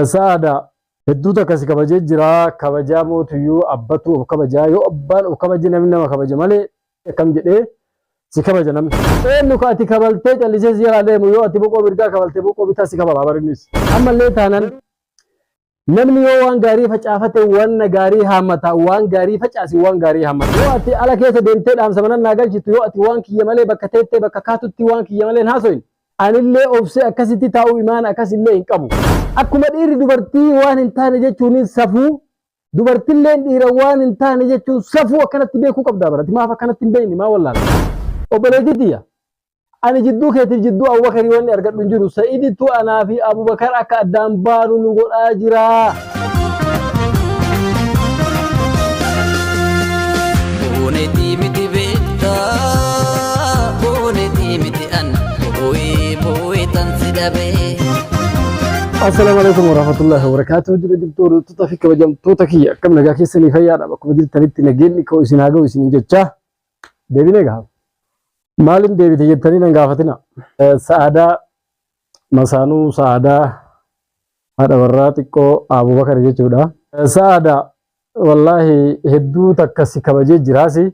Sa'aada hedduu takka si kabajee jira kabajaa mootuyyuu abbatu of kabajaa yoo abbaan of kabaje namni nama kabaja malee akkam jedhee si kabaja namni. Eenyu ka ati kabaltee callisee si jalaa deemu yoo ati boqoo mirgaa kabalte boqoo bitaa si kabala barinnis. Ammallee taanan namni yoo waan gaarii facaafate wanna gaarii haammata waan gaarii facaasi waan gaarii haammata. Yoo ati ala keessa deemtee dhaamsa manan naa galchitu yoo ati waan kiyya malee bakka teettee bakka kaatutti waan kiyya malee hin haasoyin Anillee obsee akkasitti taa'uu imaan akas illee hin qabu. Akkuma dhiirri dubartii waan hin taane jechuuniin safuu, dubartilleen dhiira waan hin taane jechuun safuu akkanatti beekuu qabdaa barati maaf akkanatti hin beekne maa wallaala. Obboleetii tiyya ani jidduu keetiif jidduu Abubakarii wanni argadhu hin jiru. Sa'iidittu anaa fi Abubakar akka addaan baanu nu godhaa jira. Boonetii miti beektaa boonetii miti an boo'ee boo'ee tan si dhabee. Assalaamu alaikum warahmatullahi wabarakatuh. Jira jirtu hordoftoota fi kabajamtoota kiyya akkam nagaa keessanii fayyaadha bakkuma jirtanitti nageenyi koo isin haa ga'u isin jechaa deebinee gaha. Maaliin deebite jettanii nan gaafatina. Sa'aadaa Masaanuu Sa'aadaa haadha warraa xiqqoo Abubakar jechuudha. Sa'aada wallaahi hedduu takka si kabajee jiraasi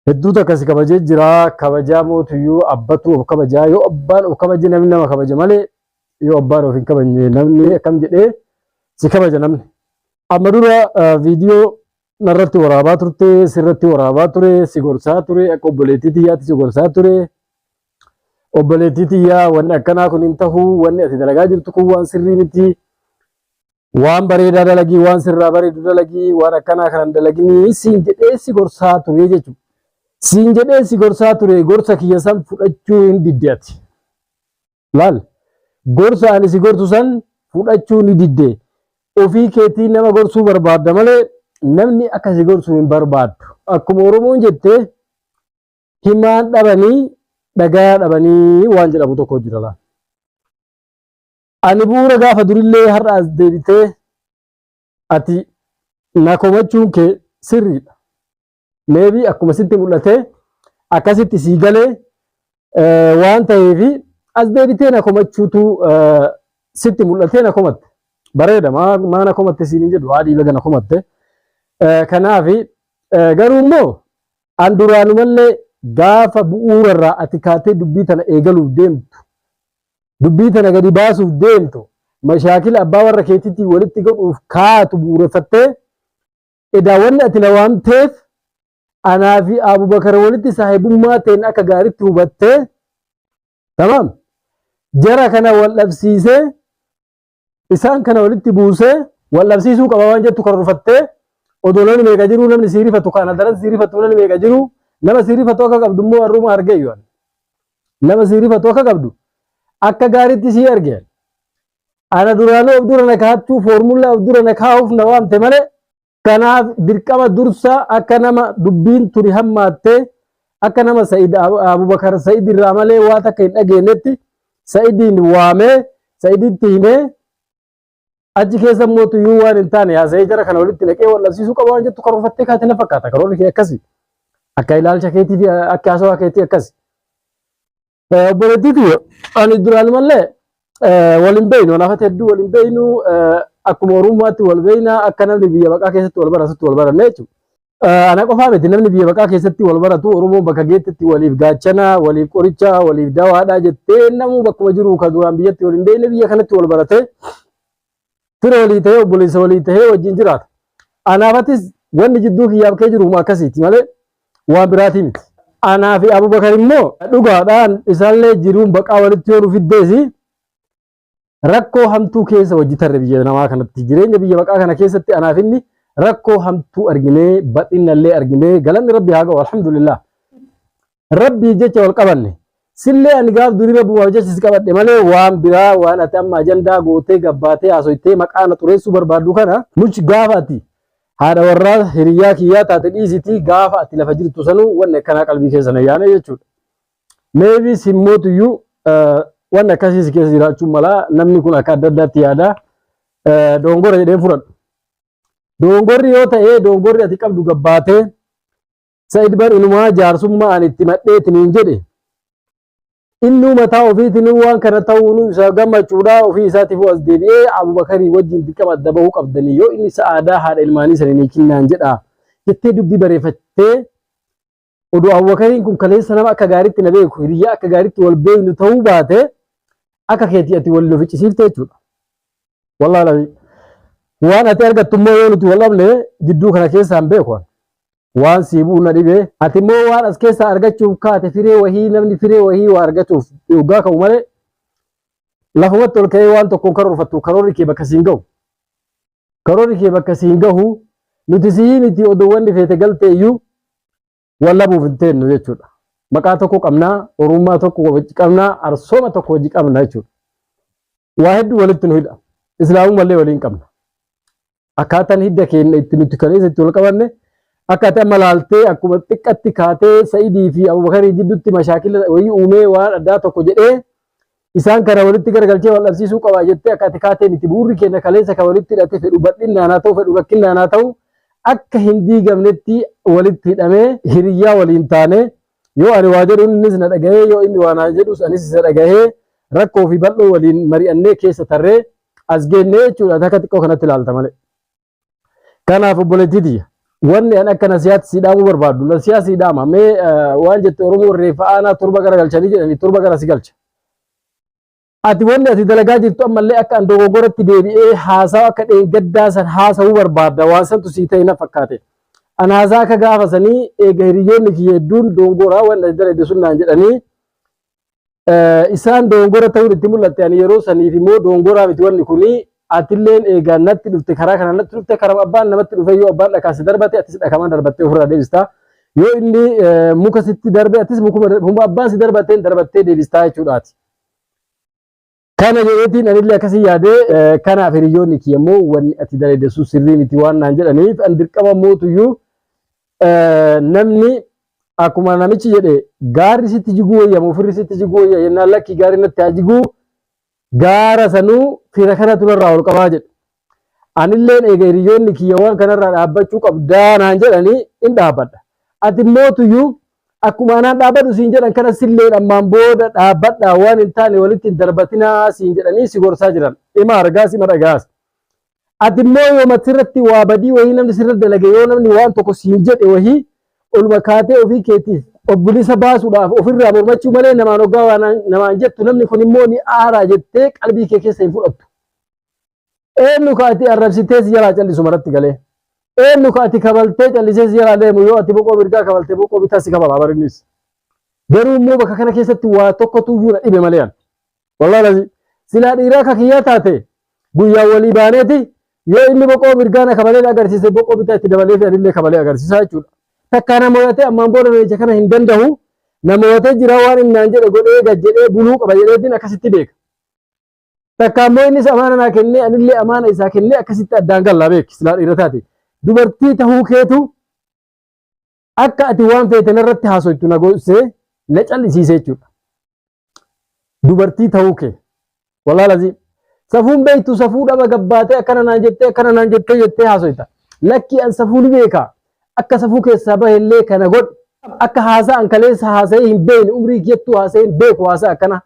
hedduu takka si kabajee jira kabajaa mootuyyuu abbatu of kabajaa yoo abbaan of kabaje namni nama kabaja malee yoo abbaan of hin kabajne namni akkam jedhee si kabaja namni. Amma dura viidiyoo narratti waraabaa turte sirratti waraabaa ture si gorsaa ture akka obboleettii tiyyaatti si gorsaa ture Obboleettii tiyyaa wanni akkanaa kun hin tahu wanni ati dalagaa jirtu kun waan sirrii miti waan bareedaa dalagii waan sirraa bareedu dalagii waan akkanaa kanan dalaginii siin jedhee si gorsaa turee jechu siin jedhee si gorsaa turee gorsa kiyya san fudhachuu hin didde ati laal gorsa ani si gortu san fudhachuu ni didde ofii keetii nama gorsuu barbaadda malee namni akka si gorsu hin barbaaddu akkuma oromoon jettee Himaan dhabanii dhagayaa dhabanii waan jedhamu tokko jira laal. Ani bu'uura gaafa durillee har'a as deebitee ati na komachuun kee sirriidha. Meebii akkuma sitti mul'atee akkasitti sii galee waan ta'eefi as deebitee na komachuutu sitti mul'atee na komatte. Bareeda maa na komatte siin hin jedhu haadhii baga na komatte. Kanaafi garuu immoo An duraanumallee gaafa bu'uurarraa ati kaatee dubbii tana eegaluuf deemtu, dubbii tana gadi baasuuf deemtu, mashaakila abbaa warra keetiitiin walitti godhuuf kaatu bu'uureffattee, edaa wanni ati na waamteef anaa fi Abubakar walitti saahibummaa teenya akka gaaritti hubattee, tamaam, jara kana wal dhabsiisee isaan kana walitti buusee wal dhabsiisuu qaba waan jettu karoorfattee odoloonni meeqa jiru namni sii rifatu kaan adaran sii rifatu namni meeqa jiru nama sii rifatu akka qabdu immoo warruma arge yoon nama sii rifatu akka qabdu akka gaariitti sii arge ana duraanuu of dura na kaa'achuu foormullaa of dura na kaa'uuf na waamte malee Kanaaf dirqama dursa akka nama dubbiin tuni hammaatte akka nama Sa'id Abubakar Sa'id irraa malee waa takka hin dhageenyetti Sa'idiin waamee Sa'iditti himee achi keessa immoo tuyyuu waan hin taane haasa'ee jara kana walitti naqee wal dhabsiisuu qaba waan jettu karoorfattee kaate na fakkaata karoorri kee akkasi akka ilaalcha keetii fi akka haasawaa keetii akkasi. Obboleettii tiyya ani duraan malee waliin beeknu walaafata hedduu waliin beeknu akkuma oromummaatti wal beekna akka namni biyya baqaa keessatti wal baratutti wal baranne jechuudha. Ana qofaa miti namni biyya baqaa keessatti wal baratu oromoon bakka geettitti waliif gaachana waliif qoricha waliif dawaadha jettee namuu bakkuma jiru kan duraan biyyatti waliin beekne biyya kanatti wal baratee fira walii ta'ee obboleessa walii ta'ee wajjin jiraata. Anaafatis wanni jidduu kiyyaaf kee jiru akkasiiti malee waan biraatii miti. Anaa fi Abubakar immoo dhugaadhaan isaallee jiruun baqaa walitti yoo nu fiddeesi rakkoo hamtuu keessa wajji tarre biyya namaa kanatti jireenya biyya baqaa kana keessatti anaaf inni rakkoo hamtuu arginee bal'inallee arginee galanni rabbi haa ga'u alhamdulillah. rabbiif jecha wal qabanne sillee ani gaaf durii rabbumaaf jecha si qabadhe malee waan biraa waan ati amma ajandaa gootee gabbaatee haasoytee maqaa na xureessuu barbaaddu kana much gaafa ati haadha warraa hiriyyaa kiyyaa taate dhiisitii gaafa ati lafa jirtu sanuu wanni akkanaa qalbii keessa na yaane jechuudha. Meebii simmootuyyuu wanni akkasii si keessa jiraachuun mala namni kun akka adda addaatti yaada doongora jedhee fudhadhu. Doongorri yoo ta'e doongorri ati qabdu gabbaatee Sa'id bar inumaa jaarsummaa ani itti madheetiniin jedhe innuu mataa ofiitinuu waan kana ta'uunuu isa gammachuudhaa ofii isaatiifuu as deebi'ee Abubakarii wajjin dirqama adda bahuu qabdanii yoo inni sa'aadaa haadha ilmaanii sanii ni kinnaan jedha jettee dubbii bareeffattee oduu Abubakariin kun kaleessa nama akka gaariitti na beeku hiriyyaa akka gaariitti wal beeknu ta'uu baate akka keetii ati wal nu ficcisiifte jechuudha. Wallaahi waan ati argattu immoo yoo nuti wal dhabne jidduu kana keessaan beeku. Waan sii bu'u na dhibe. Ati immoo waan as keessaa argachuuf kaate firee wahii namni firee wahii waa argatuuf dhugaa ka'u malee lafumatti ol ka'ee waan tokkoon karoorfattu karoorri kee bakka siin gahu. Karoorri kee bakka siin gahu nuti sii miti oduu wanni feete galte iyyuu wallabuuf hin teennu jechuudha. Maqaa tokko qabnaa, orummaa tokko qabnaa, arsooma tokko hojii qabna jechuudha. waa hedduu walitti nu hidha. Islaamummaa illee waliin qabna. Akkaataan hidda keenya itti nuti kaleessa itti wal qabanne akkaataa amma laaltee akkuma xiqqatti kaatee Sa'idii fi Abubakarii jidduutti mashaakila wayii uumee waan addaa tokko jedhee isaan kana walitti garagalchee wal dhabsiisuu qaba jettee akka ati kaatee miti bu'uurri keenya kaleessa kan walitti hidhate fedhu bal'inaan haa ta'u fedhu rakkinaan haa ta'u akka hin diigamnetti walitti hidhamee hiriyyaa waliin taanee Yoo ani waa jedhu innis na dhagahee, yoo inni waa naa jedhus anis isa dhagahee rakkoo fi bal'oo waliin mari'annee keessa tarree as geenne jechuu dha. Ati akka xiqqoo kanatti ilaalta malee. Kanaaf obboleettii tiyya wanni an akka nasihaatti sii dhaamuu barbaaddu nasihaa sii dhaama mee waan jette Oromoon reeffa aanaa torba gara galchanii jedhanii torba gara si galcha. Ati wanni ati dalagaa jirtu ammallee akka an dogoggoratti deebi'ee haasawa akka dheengaddaa san haasawuu barbaadda waan santu sii ta'e na fakkaate. An haasaa akka gaafa sanii eega hiriyyoonni kiyya hedduun doongoraa waan ati dalayde sun naan jedhanii isaan doongora ta'uun itti mul'atte ani yeroo saniif immoo doongoraa miti wanni kuni atilleen eegaa natti dhufte karaa kana natti dhufte karaa abbaan namatti dhufe yoo abbaan dhakaa si darbate atis dhakamaan darbattee ofirraa deebista yoo inni muka sitti darbe atis mukuma abbaan si darbateen darbattee deebistaa jechuudhaati. Kana jedheetiin anillee akkasii yaade kanaaf hiriyoonni kiyya immoo wanni ati daleedessu sirrii miti waan naan jedhaniif an dirqama mootuyyuu namni akkuma namichi jedhe gaarri sitti jiguu wayya moo firri sitti jiguu wayya yennaan lakki gaarri natti haa jiguu gaara sanuu fira kanatu narraa ol qabaa jedhe. Anilleen eega hiriyyoonni kiyya waan kanarraa dhaabbachuu qabdaa naan jedhanii in dhaabbadha. Ati immoo tuyyuu akkuma anaan dhaabbadhu siin jedhan kana silleen ammaan booda dhaabbadhaa waan hin taane walitti hin darbatinaa siin jedhanii si gorsaa jiran. Ima argaas ima dhagaas. Ati immoo yoo matirratti waa badii wahii namni sirra dalage yoo namni waan tokko siin jedhe wahii oluma kaatee ofii keetiif of bilisa baasuudhaaf ofirraa mormachuu malee namaan hoggaa waan namaan jettu namni kun immoo ni aaraa jettee qalbii kee keessa hin fudhattu. Eenyu ka ati arrabsitee si jalaa callisu maratti galee? Eenyu ka ati kabaltee callisee si jalaa deemu yoo ati boqoo mirgaa kabalte boqoo bitaa si kabala bar innis. Garuu immoo bakka kana keessatti waa tokkotu iyyuu na dhibe malee an. Wallahi lazi silaa dhiiraa ka kiyyaa taate guyyaa walii baaneeti yoo inni boqoo mirgaa na kabalee na agarsiise boqoo bitaa itti dabalee fi anillee kabalee agarsiisaa jechuudha. Takkaa na mo'atee ammaan booda reecha kana hin danda'u na mo'atee jira waan inni naan jedhe godhee gad jedhee buluu qaba jedheetiin akkasitti beeka. Takka ammoo innis amaana naa kennee anillee amaana isaa kennee akkasitti addaan gallaa beeki silaa dhiira taate. Dubartii tahuu keetu akka ati waan feete narratti haasoytu na goosee na callisiisee jechuudha. Dubartii tahuu kee. Walaa lazii. Safuun beektu safuu dhaba gabbaatee akkana naan jettee akkana naan jettee jettee haasoyta. Lakkii an safuu ni beeka. Akka safuu keessaa bahellee kana godhu. Akka haasaa an kaleessa haasa'ee hin beekne umrii kiyyattuu haasa'ee hin beeku haasaa akkana.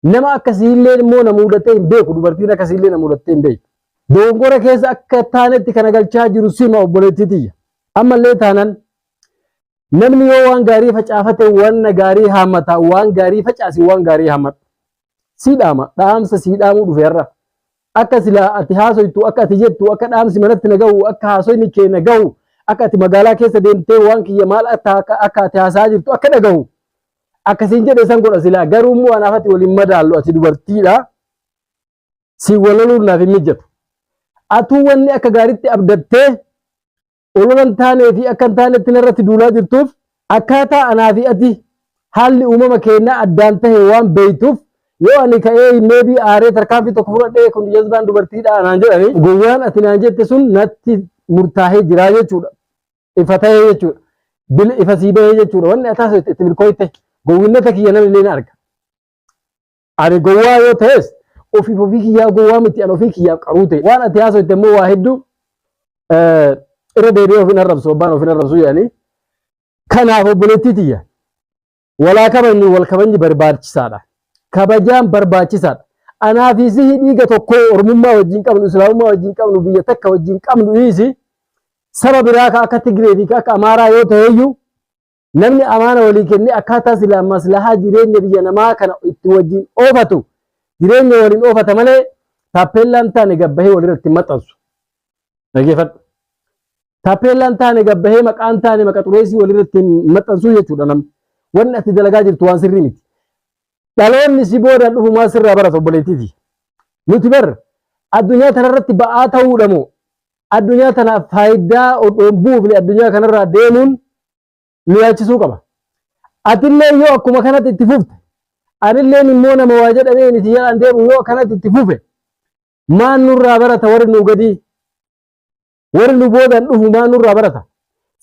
Nama akkasiillee immoo na muudatee hin beeku dubartiin akkasiillee na muudattee hin beektu. Dogongora keessa akka taanetti kana galchaa jiru sima obboleettii tiyya. Ammallee taanan namni yoo waan gaarii facaafate wanna gaarii haammata waan gaarii facaasi waan gaarii haammadhu. Sii dhaama dhaamsa sii dhaamuu dhufe har'a. Akka silaa ati haasoytu akka ati jettu akka dhaamsi manatti na gahu akka haasoyni kee na gahu akka ati magaalaa keessa deemtee waan kiyya maal akka akka ati haasaa jirtu akka dhagahu akkasiin jedhe san godha silaa garuu immoo anaaf ati waliin madaallu ati dubartiidha si walaluun naaf hin mijjatu atuu wanni akka gaaritti abdattee ololan taanee fi akka hin taanetti narratti duulaa jirtuuf akkaataa anaa fi ati haalli uumama keenyaa addaan tahe waan beeytuuf yoo ani ka'ee meebii aaree tarkaanfii tokko fudhadhee kun jazbaan dubartiidha anaan jedhani gowwaan ati naan jette sun natti murtaahee jiraa jechuudha ifa ta'ee jechuudha. Bil ifa sii bahee jechuudha. Wanni ataa sun itti milkooyte gowwinnata kiyya namni illee ni arga. Ani gowwaa yoo ta'es ofiif ofii kiyyaa gowwaa miti ani ofii kiyyaaf qaruu ta'e. Waan ati haasofte immoo waa hedduu irra deebi'ee ofin arrabsu abbaan ofin arrabsu jedhanii. Kanaaf obboleettii tiyya Walaa kabajnu wal kabajni barbaachisaadha. Kabajaan barbaachisaadha. Anaa fi sihi dhiiga tokko ormummaa wajjin qabnu, islaamummaa wajjin qabnu, biyya takka wajjin qabnu dhiisi. Saba biraa ka akka Tigree fi ka akka Amaaraa yoo ta'eyyuu namni amaana walii kennee akkaataa silaa maslahaa jireenya biyya namaa kana itti wajjin oofatu jireenya waliin oofata malee taappeellaan taane gabbahee walirratti maxxansu. Dhageeffadhu. Taappeellaan taane gabbahee maqaan taane maqa xureessii walirratti maxxansuu jechuudha namni. Wanni ati dalagaa jirtu waan sirrii miti. Dhaloonni si boodaan dhufu maal sirraa barata obboleettiiti. Nuti bar addunyaa kanarratti ba'aa ta'uudha moo addunyaa tanaaf faayidaa odoo buufne addunyaa kanarraa deemuun nu yaachisuu qaba. Atillee yoo akkuma kanatti itti fufte anilleen immoo nama waa jedhamee miti jedhaan deemu yoo akkanatti itti fufe Maan nurraa barata warri nu gadii? Warri nu boodaan dhufu maan nurraa barata?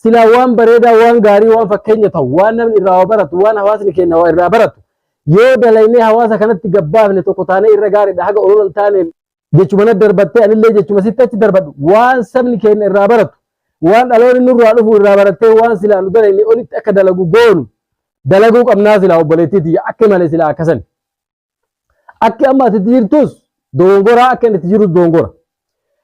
Silaa waan bareedaa, waan gaarii, waan fakkeenya ta'u, waan namni irraa waa baratu, waan hawaasni keenya waa irraa baratu yoo dalaynee hawaasa kanatti gabbaafne tokko taanee irra gaariidha haga olola hin taane jechuma na darbattee anillee jechuma sitti achi darbadhu waan sabni keenya irraa baratu waan dhaloonni nurraa dhufu irraa barattee waan silaa nu dalayne olitti akka dalagu goonu dalaguu qabnaa silaa obboleettii tiyya akka malee silaa akkasan Akki amma ati itti jirtus dogongora akka inni itti jirus dogongora.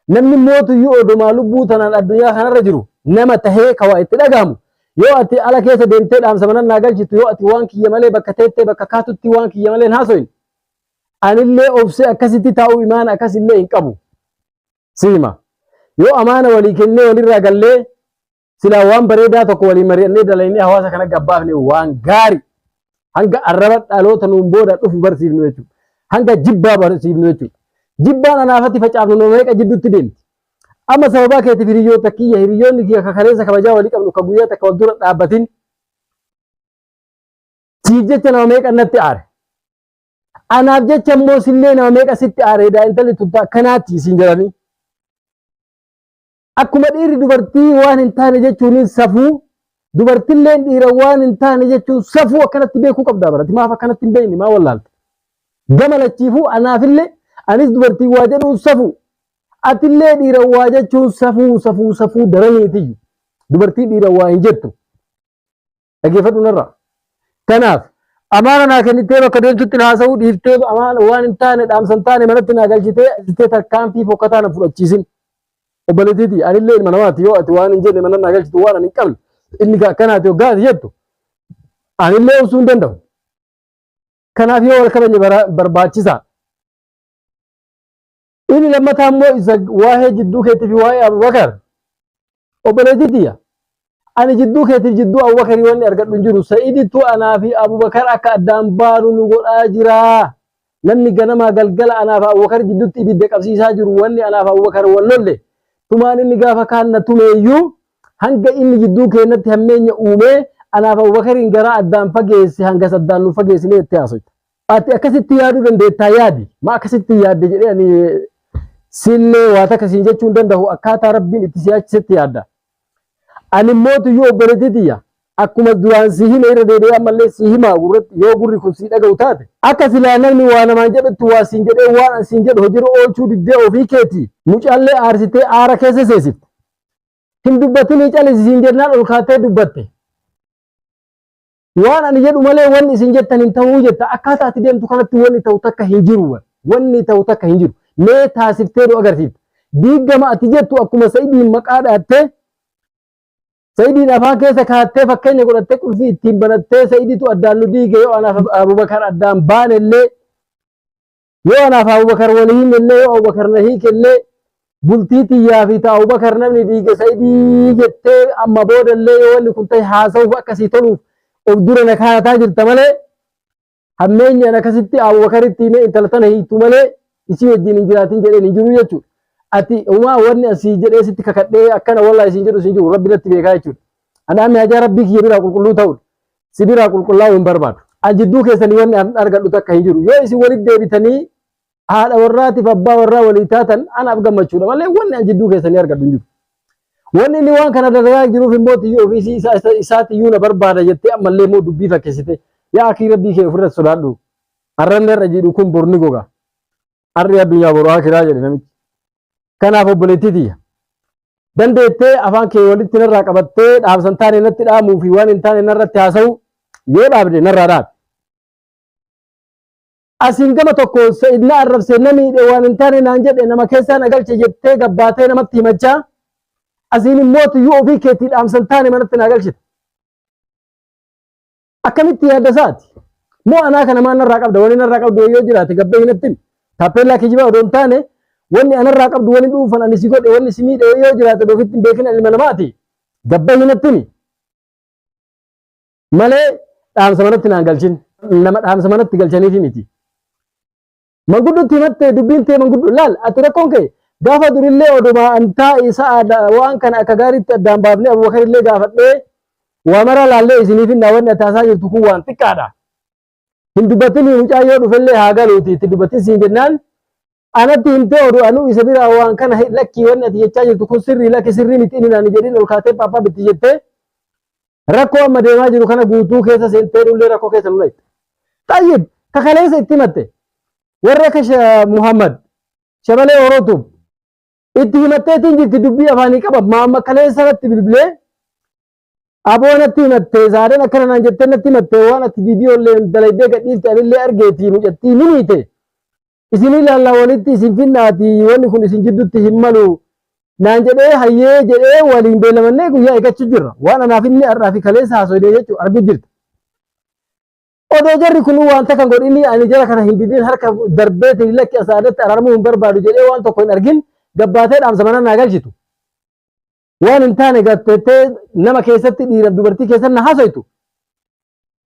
Namni mootuyyuu odomaa lubbuu tanaan addunyaa kanarra jiru nama tahee kawaa itti dhagahamu yoo ati ala keessa deemtee dhaamsa manan naa galchitu yoo ati waan kiyya malee bakka teettee bakka kaatutti waan kiyya malee hin haasoyin anillee obsee akkasitti taa'uu imaana akkasillee hin qabu. Siima. Yoo amaana walii kennee walirraa gallee silaa waan bareedaa tokko waliin mari'annee dalaynee hawaasa kana gabbaafne waan gaari hanga arraba dhaloota nuun booda dhufu barsiifnu jechuudha. Hanga jibbaa barsiifnu jechuudha. Jibbaan anaafatti facaafnu nama meeqa jidduutti deemti. Amma sababaa keetiif hiriyoota kiyya hiriyoonni kiyya akka kaleessa kabajaa walii qabnu akka guyyaa takka wal dura dhaabbatin siif jecha nama meeqa natti aare. Anaaf jecha immoo sillee nama meeqa sitti aare edaa intalli tuttaa akkanaatti isin jedhanii. Akkuma dhiirri dubartii waan hin taane jechuun safuu dubartilleen dhiira waan hin taane jechuun safuu akkanatti beekuu qabdaa barati maaf akkanatti hin beekne maa wallaalte. Gama lachiifuu anaafillee anis dubartii waa jedhuun safuu atillee dhiira waa jechuun safuu safuu safuu daraniitiyyu dubartii dhiira waa hin jettu. Dhaggeeffadhu narraa. Kanaaf amaana naa kennittee bakka deemtutti na haasa'uu dhiiftee amaana waan hin taane dhaamsa hin taane manatti naa galchitee ajjettee tarkaanfii fokkataa na fudhachiisin. Obboleettiiti anillee ilma namaati yoo ati waan hin jenne mana naa galchitu waan ani hin qabne inni kan akkanaati yoo gaati jettu anillee obsuu hin danda'u. Kanaaf yoo wal kabajne bara- barbaachisaa. Inni lammataa immoo isa waa'ee jidduu keetii fi waa'ee Abubakar. Obboleettii tiyya. Ani jidduu keetiif jidduu Abubakarii wanni argadhu hin jiru. Sa'idittu anaa fi Abubakar akka addaan baanu nu godhaa jira. Namni ganamaa galgala anaa fi Abubakar jidduutti ibidda qabsiisaa jiru wanni anaa fi Abubakar wal lolle. Tumaan inni gaafa kaan na tumeeyyuu hanga inni jidduu keenyatti hammeenya uumee anaa fi Abubakariin garaa addaan fageesse hangas addaan nu fageessinee itti haasofte. Ati akkasitti yaaduu dandeettaa yaadi. Ma akkasitti hin yaadde jedhee ani siinlee waa takka siin jechuu hin danda'u akkaataa rabbiin itti si yaachisetti yaadda. Ani mootuyyuu obboleettii tiyya akkuma duraan si hime irra deebi'ee ammallee si himaa gurratti yoo gurri kun si dhaga'u taate. Akka silaa namni waa namaan jedhutti waa siin jedhee waan an siin jedhu hojiirra oolchuu diddee ofii keeti. Mucaallee aarsitee aara keessa seesifte. Hin dubbatinii calisi siin jennaan ol kaattee dubbatte. Waan ani jedhu malee wanni isin jettan hin ta'uu jetta. Akkaataa ati deemtu kanatti wanni ta'u takka hin jiru. bar. Wanni ta'u takka hin jiru. Mee taasiftee nu agarsiifta. Diiggama ati jettu akkuma Sa'idiin maqaa dhaattee Sa'idiin afaan keessa kaattee fakkeenya godhattee qulfii ittiin banattee Sa'iditu addaan nu diige yoo anaaf Abubakar addaan baanellee Yoo anaaf Abubakar wal hiinellee yoo Abubakar na hiikellee bultii tiyyaa fi ta Abubakar namni diige Sa'idii jettee amma boodallee yoo wanni kun ta'e haasa'uuf akkasii toluuf of dura na kaa'ataa jirta malee hammeenyaan akkasitti Abubakaritti himee intala tana hiiktu malee isii wajjin hin jiraatin jedheen hin jiru jechuudha. Ati umaa wanni asii jedhee sitti kakadhee akkana walaa isin jedhu isin jiru rabbi natti beekaa jechuudha. Anaamni hajaa rabbii kiyya biraa qulqulluu ta'udha. si biraa qulqullaa'uu hin barbaadu. An jidduu keessanii wanni an argadhu takka hin jiru. Yoo isin walitti deebitanii haadha warraatiif abbaa warraa walii taatan anaaf gammachuudha malee wanni an jidduu keessanii argadhu hin jiru. Wanni inni waan kana dalagaa jiruuf immoo tiyyoo ofiisii isaa isa- isaatiyyuu na barbaada jettee ammallee immoo dubbii fakkeessite. Yaa akii rabbii kee ofirra sodaadhu. Arranni irra jiidhu kun borni goga. har'i addunyaa boru akiraa jedhe namichi. Kanaaf obboleettii tiyya. Dandeettee afaan kee walitti narraa qabattee dhaamsan taane natti dhaamuu fi waan hin taane narratti haasa'u yoo dhaabde narraa dhaabe. Asiin gama tokko sa'id na arrabse na miidhe waan hin taane naan jedhe nama keessaa na galche jettee gabbaatee namatti himachaa asiin immoo tuyyuu ofii keetii dhaamsan taane manatti na galchite. Akkamitti yaadda isaati? Moo anaa kana maa narraa qabda? Wanni narraa qabdu yoo jiraate gabbee hin attin. Taappeellaa kijibaa odoo hin taane wanni anarraa qabdu wanni dhuunfan ani si godhe wanni si miidhe yoo jiraate odoo ofitti hin beekin ilma namaati. Gabbee hin attini. Malee dhaamsa manatti naan galchin. Nama dhaamsa manatti galchaniifi miti. Manguddotti himattee dubbiin tee manguddo laal ati rakkoon kee gaafa durillee oduma antaa isa waan kana akka gaariitti addaan baafnee abubakarillee gaafadhee waa maraa laallee isiniif hin daawwanne ati haasaa jirtu kun waan xiqqaadha. Hin dubbatinii mucaan yoo dhufellee haa galuuti itti dubbatin siin jennaan anatti himtee oduu anuu isa biraa waan kana lakkii wanni ati jechaa jirtu kun sirrii lakki sirrii miti inni naan jedhin ol kaatee paappaa bitti jettee Rakkoo amma deemaa jiru kana guutuu keessa seentee dhullee rakkoo keessa nu dhayte. Xayyib ka kaleessa itti himatte warra akka Sha- Muhammad shabalee Orootuuf itti himatteetiin jirti dubbii afaanii qaba maamma kaleessa irratti bilbilee aboo natti himatte saadaan akkana naan jettee natti himatte waan ati viidiyoo illee dalaydee gadhiifte anillee argeetii mucattii ni miite isin ilaalla walitti isin finnaati wanni kun isin jiddutti hin malu naan jedhee hayyee jedhee waliin beelamannee guyyaa eeggachuu jirra waan anaaf inni har'aa fi kaleessa haasofnee jechuu arguu jirta. Odoo jarri kun waan takka hin godhini ani jara kana hin didin harka darbeetiin lakki asaadatti araaramuu hin barbaadu jedhee waan tokko hin argin gabbaatee dhaamsa mana naa galchitu. Waan hin taane gatteettee nama keessatti dhiiraaf dubartii keessatti na haasoftu.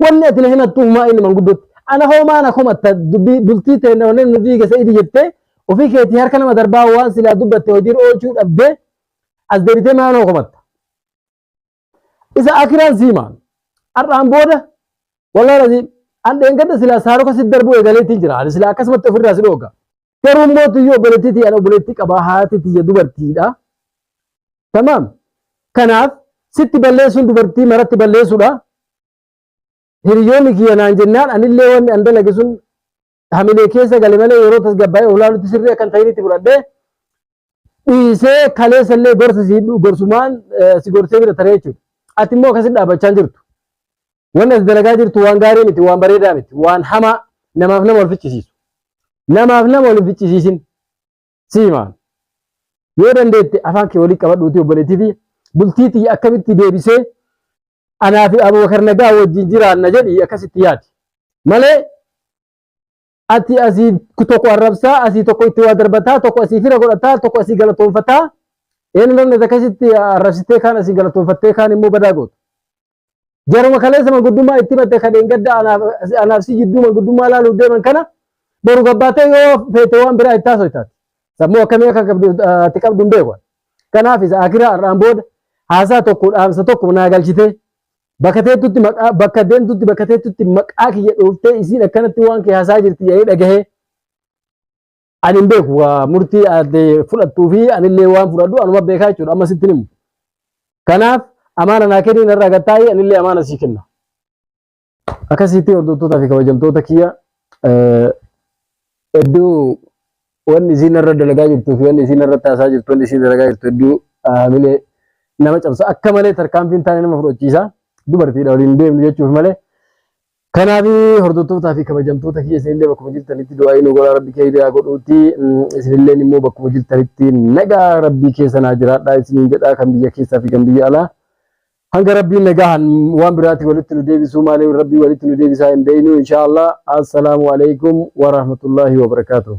Wanni ati na himattu humaa inni manguddotti. Ana hoomaa na komatta dubbii bultii ta'e wanneen nu diige sa'idi jettee ofii keetii harka nama darbaa waan silaa dubbatte hojiirra oolchuu dhabdee as deebitee maa nama komatta. Isa akiraan siimaan har'aan booda walaa raziin an dheengadda silaa saaroka si darbuu eegaleetiin jira. Ani silaa akkasumatti ofirraa si dhooga. Garuu immoo tuyyuu obboleettii tiyya obboleettii qaba haati tiyya dubartiidha. Tamaam. Kanaaf sitti balleessuun dubartii maratti balleessuudha. Hiriyoonni kiyya naan jennaan anillee wanni an dalage sun hamilee keessa gale malee yeroo tasgabbaa'ee olaalutti sirrii akka hin ta'initti fudhadhee dhiisee kaleessa illee gorsa si hidhu gorsumaan eh, si gorsee bira taree jechuudha. Ati immoo akkasitti dhaabbachaa hin jirtu. Wanni ati dalagaa jirtu waan gaarii miti, waan bareedaa miti, waan hamaa namaaf nama wal ficcisiisu. Namaaf nama wal hin ficcisiisin. Siimaa. Yoo dandeette afaan kee waliin qabadhuuti obboleettii fi bultii tiyya akkamitti deebisee anaa fi Abubakar Nagaa wajjin jiraanna jedhi akkasitti yaadi. Malee ati asii tokko arrabsaa asii tokko itti waa darbataa tokko asii fira godhataa tokko asii galatoonfataa een namni akkasitti arrabsitee kaan asii galatoonfattee kaan immoo badaa gootu. Jaruma kaleessa manguddummaa itti batte kan gadda anaaf si jidduu manguddummaa ilaaluuf deeman kana boru gabbaatee yoo feete waan biraa itti haasoo taate. Sammuu akkamii akka qabdu ati qabdu hin beeku. Kanaaf isa akiraa har'aan booda haasaa tokko dhaamsa tokko naa galchitee Bakka teettutti maqaa bakka deemtutti bakka teettutti maqaa kiyya dhooftee isiin akkanatti waan kee haasaa jirti jedhee dhagahee. Ani hin beeku waa murtii aadde fudhattuu fi anillee waan fudhadhu anuma beekaa jechuudha amma sitti himu. Kanaaf amaana naa kennii narraa gad taa'ii anillee amaana sii kenna. Akkasitti hordoftootaa fi kabajamtoota kiyya eh, hedduu Wanni isiin narra dalagaa jirtuu fi wanni isiin narratti haasaa jirtu, wanni isiin dalagaa jirtu hedduu hamilee nama cabsa. Akka malee tarkaanfiin taane nama fudhachiisa. Dubartiidha waliin deemnu jechuuf malee. Kanaaf hordottootaa fi kabajamtoota kiyya isinillee bakkuma jirtanitti du'aa'ii nu godhaa rabbi keeyri haa godhuuti. Isinilleen immoo bakkuma jirtanitti nagaa rabbii keessa naa jiraadhaa isiniin jedhaa kan biyya keessaa fi kan biyya alaa. Hanga rabbiin nagahan waan biraati walitti nu deebisuu maalee rabbii walitti nu deebisaa hin beeynu inshaallah. Assalaamu alaikum wa rahmatullaahi wa barakaatuh.